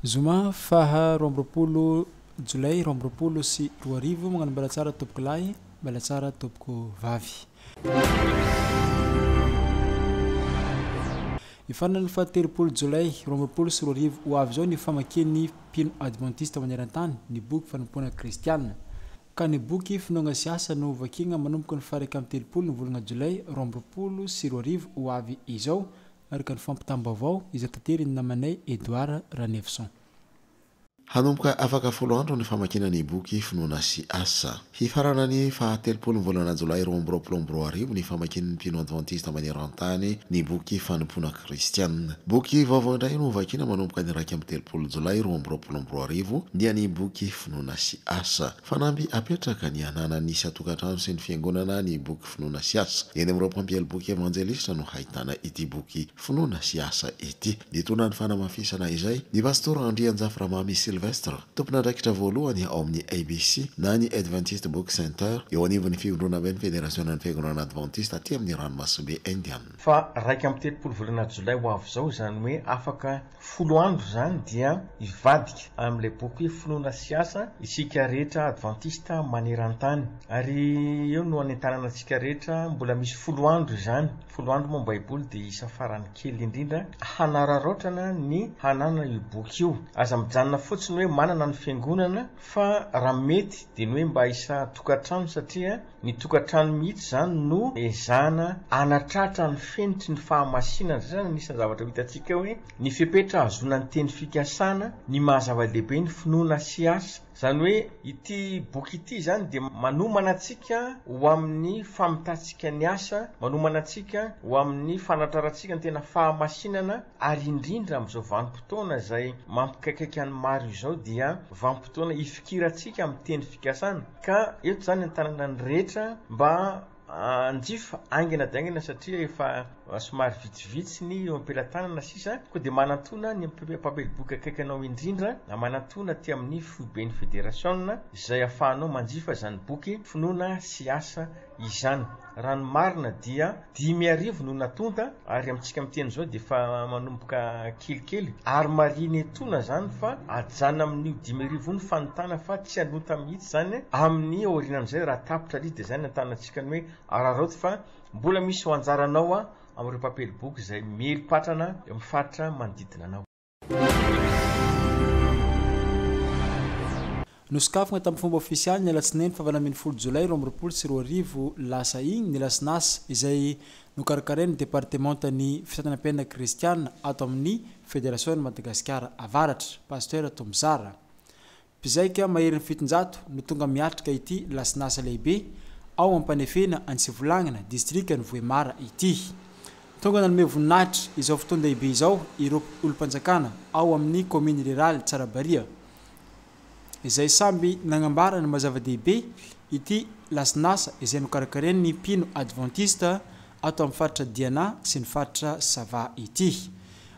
Zoma faha roa amby roapolo jolay roa amby roapolo sy roa arivo. Magnano mbala tsara tompoko lahy, mbala tsara tompoko vavy. Ny faran'ny fahatelopolo jolay roa amby roapolo sy roa arivo ho avy izao ny famakian'ny mpino advantista maneran-tany ny boky fanompoana kristiana. ka ny boky Finoana sy Asa no hovakiagna manomboka ny fara iraika amby telopolo ny volagna Jolay roa amby roapolo sy roa arivo ho avy izao, araka ny fampitam-baovao izay taterin'ny namanay Edouard Ranefison. Hanomboka afaka folo andro ny famakiana ny boky Finoana sy Asa. Hifarana ny faha telopolo ny volana Jolay roa amby roapolo amby roa arivo ny famakian'ny mpino advantista maneran-tany ny boky Fanompoana. Kristiana. Boky vaovao indray no hovakiana manomboka ny iraika amby telopolo Jolay roa amby roapolo amby roa arivo, dia ny boky Finoana sy Asa. Fanamby apetraka ny hananan'ny isan-tokantrano sy ny fiangonana ny boky Finoana sy Asa. Eny amin'ireo mpampiely boky evanjelista no hahitana ity boky Finoana sy Asa ity. Nitondra ny fanamafisana izay ny Pastora Andrianjafy Ramamy Sylvestre, tompon'andraikitra voalohany ao amin'ny ABC na ny Adventist Book Center, eo anivon'ny Fivondronamben'ny Federasionan'ny Fiangonana Advantista aty amin'ny Ranomasimbe Indian. Fa iraika amby telopolo volana jolay ho avy izao, izany hoe afaka folo andro izany, dia hivadika amin'ilay boky hoe Finoana sy Asa isika rehetra Advantista maneran-tany. Ary eo no hanentanana antsika rehetra, mbola misy folo andro izany. Folo andro moa ny Baiboly dia isa farany kely indrindra hanararaotrana ny hananana io boky io. Aza mijanona fotsiny hoe manana ny Fiangonana, fa raha mety dia ny hoe mba isa tokantrano, satria Ny tokantrano mihitsy izany no ezahana hanatratra ny fenitry ny fahamasinana, izay izany anisan'ny zavatra ho hitantsika hoe ny fepetra hahazoana ny teny fikasana, ny maha zava-dehibe ny finoana sy asa. Izany hoe ity boky ity izany dia manomana antsika ho amin'ny famitantsika ny asa, manomana antsika ho amin'ny fanatrarantsika ny tena fahamasinana, ary indrindra amin'izao vanim-potoana izay mampikaikaika ny maro izao dia vanim-potoana hifikirantsika amin'ny teny fikasana ka eto izany entanana ny rehetra mba hanjifa aingana dia aingana satria efa somary vitsivitsy ny eo am-pelatanana sisa koa dia manantona ny mpameliboka akaiky anao indrindra manantona aty amin'ny foiben'ny federasiona izay afahanao manjifa izany boky finoana sy asa izany. Raha ny marina dia dimy arivo no natonta ary amintsika miteny izao dia efa manomboka kelikely ary marihina etona izany fa ajanona amin'io dimy arivo io ny fanontana fa tsy hanonta mihitsy izany amin'ny aorinan'izay raha tapitra ry dia izay no antanantsika ny hoe araraoty fa mbola misy ho anjaranao amin'ireo mpampiely boky izay miely patrana eo amin'ny faritra manodidina anao. Nosokafana tamin'ny fomba ofisialy ny alatsinainy fahavalo ambin'ny folo jolay roa amby roapolo sy roa arivo lasa iny ny lasin'asa izay nokarakarain'ny departemantan'ny fitantanam-piainana kristiana ato amin'ny Federasion'i Madagasikara Avaratra, Pasitera Tombozara Mpizaika maherin'ny fitonjato no tonga miatrika ity lasinasa lehibe ao Ampanefena any Sivolagnana, distrikan'i Vohemara ity. Tonga nanome voninahitra izao fotoan-dehibe izao ireo olom-panjakana ao amin'ny kaominina riraly Tsarabariha, izay samby nagnambara ny maha-zava-dehibe ity lasinasa izay nokarakarain'ny mpino advantista ato amin'ny faritra Diana sy ny faritra Sava ity.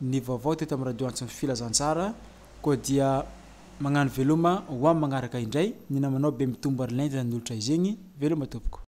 ny vaovao teto amin'ny radio antson'ny filazantsara koa dia magnano veloma ho amin'ny magnaraka indray ny namanao be mitombo ary lenta ny olotra izegny veloma tompoko.